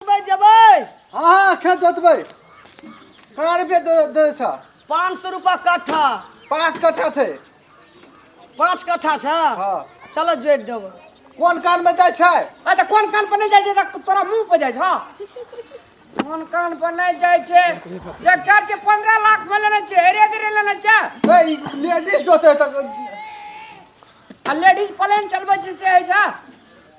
जोतबै जेबै हाँ हाँ खेत जोतबै कड़ा रुपया दे दे छ पाँच सौ रुपया कट्ठा पाँच कट्ठा छै पाँच कट्ठा छै हाँ चलो जोत देबै कोन कान में जाय छै आ तऽ कोन कान पर नहि जाइ छै तऽ तोरा मुंह पर जाइ छौ कोन कान पर नहि जाइ छै ट्रैक्टर के पंद्रह लाख में लेने छै हेरे गेरे लेने छै ए ई लेडीज जोते त आ लेडीज प्लेन चलबै छै से होइ छै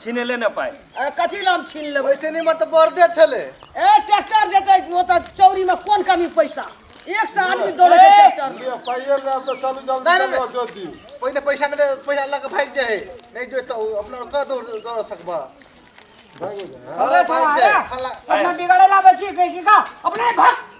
छीने ले ने पाइ अरे कथी ला हम छीन लेबै वैसे नहीं मर तो बर्दे छले ए ट्रैक्टर जेतै ओ तऽ चौरी में कोन कमी पैसा एक से आदमी दौड़े छै ट्रैक्टर में। पाइए ले तो चलू जल्दी नहीं, नहीं, चलू नहीं। जोत दी पहिने पैसा मिले पैसा लग भाग जाए नहीं जो तो अपना कह दो दौड़ सकबा भागो जा। अरे भाग जाए अपना बिगड़े लाबै छी की का अपने भाग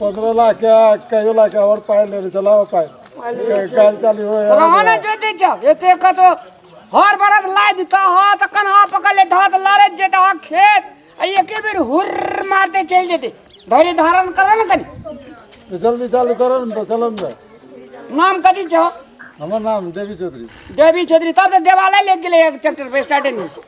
पकड़ला के कहियो ला के और पाए ले चला पाए गाड़ी चालू हो रहना जो दे जा एते का तो हर बरस ला दिता हा त कन्हा पकड़ ले धात लारे जेता हा खेत आ एके बेर हुर मारते चल जेते धैर्य धारण कर न कनी जल्दी चालू करो न तो चलो न नाम कथी छ हमर नाम देवी चौधरी देवी छेत्री तब त देवालय ले गेले एक ट्रैक्टर पे स्टार्टिंग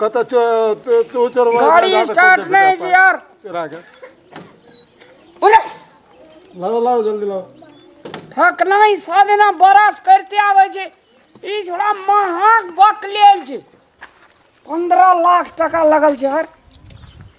कतऽ चो तो तो चोरवा गाड़ी जा- जा- स्टार्ट जा- नहीं जा- जी यार चोरा के बोले लाओ लाओ जल्दी लाओ ठकना ही साधना बरस करते आवे जे ई छोड़ा महक बक लेल जे पंद्रह लाख टका लगल छै यार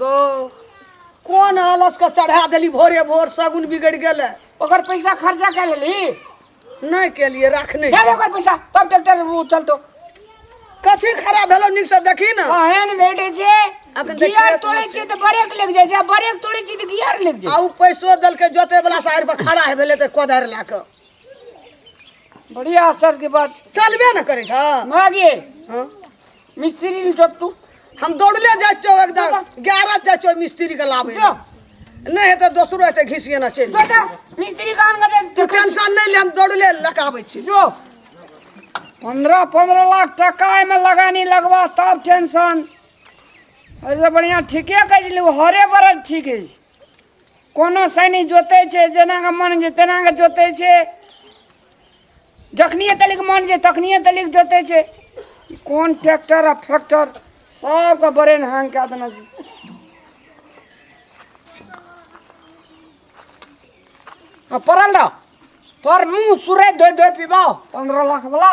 गो कोन आलस के चढ़ा देली भोरे भोर सगुन बिगड़ गेले ओकर पैसा खर्चा कर लेली नहीं के लिए रखने दे दे ओकर पैसा तब ट्रैक्टर वो चलतो कथी खराब भेलो निक से देखी ना कहन बेटे जे अखन देख गियर खेत तोड़े में छी त ब्रेक लग जाय छै ब्रेक तोड़े छी त गियर लग जाय आउ पैसो दल के जोते वाला साइड पर खड़ा है भेले ते कोदार ला के बढ़िया असर के बात छै। चलबे न करे छ मागे हां मिस्त्री नहीं जोत तू हम दौड़ले जाए छो एकदम ग्यारह जाए छो मिस्त्री के लाभ जो। नहीं है तो दोसरो है तो घिस गेना चल बेटा मिस्त्री काम करे तू टेंशन नहीं ले हम दौड़ले लगाबे छी जो पंद्रह पंद्रह लाख टका एहिमे लगानी लगबा तब टेंशन एहिसँ बढ़िआँ ठीके कहै छलै ओ हरे बरद ठीक अछि कोनो सैनी जोतै छै जेनाके मन छै तेनाके जोतै छै जखनिए तलिक मन जे तखनिए तलिक जोतै छै ई कोन ट्रैक्टर आ फैक्टर सबके ब्रेन हैंग कए देने छै आ पड़ल रह तोर मुँह सुरै धोइ धोइ पीबा पंद्रह लाख बला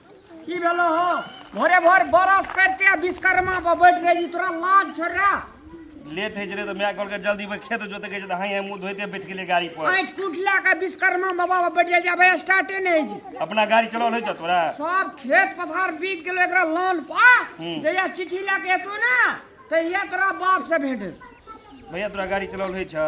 की भेलो हो भोरे भोर बरस करते विश्वकर्मा पर बैठ रहे जी तोरा लाज छोड़ रहा लेट होइ छलै तऽ माय कहलकै जल्दी भाई खेत जोते कहै छै तऽ हाय मुँह धोइते बैठ गेलै गाड़ी पर आँट कूट ला के विश्वकर्मा बाबा पर बैठ जाए भाई स्टार्टे नहीं है जी अपना गाड़ी चलल होइ छ तोरा सब खेत पथार बीत गेलो एकरा लान पा हम्म। जहिया चिट्ठी ला के एतो ना तहिया तोरा बाप से भेंट हेतौ। भैया तोरा गाड़ी चलल होइ छ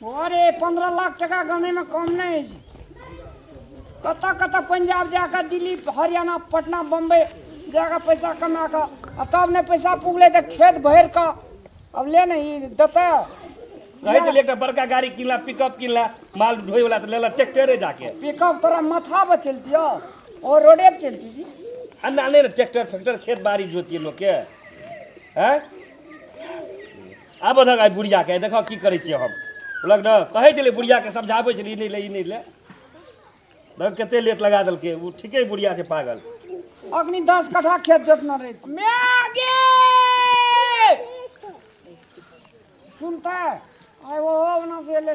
अरे पंद्रह लाख टका गमेमे कम नहि होइ छै कतऽ कतऽ पंजाब जाकऽ दिल्ली हरियाणा पटना बम्बई जाकऽ पैसा कमा कऽ आ तब नहि पैसा पुगलै तऽ खेत भरि कऽ अब ले ने ई देतै रहै छलै एकटा बड़का गाड़ी किनला पिकअप किनला माल ढोय वाला तऽ लेला ट्रैक्टरे जाके पिकअप तोरा माथा पर चलतियो ओ रोडे पर चलती जी अन्ना नहि ने ट्रैक्टर फैक्टर खेत बाड़ी जोतिए लोकके हैं आबऽ धक आइ बुढ़ियाके आइ देखऽ की करै छियै हम बोलक ने कहै छलै बुढ़ियाके समझाबै छलै ई नहि ले ई नहि ले देख कते लेट लगा देलकै ओ ठीके बुढ़िया छै पागल अग्नि दस कट्ठा खेत जोतना रही मैगे सुनता आइ वो ओना से एलै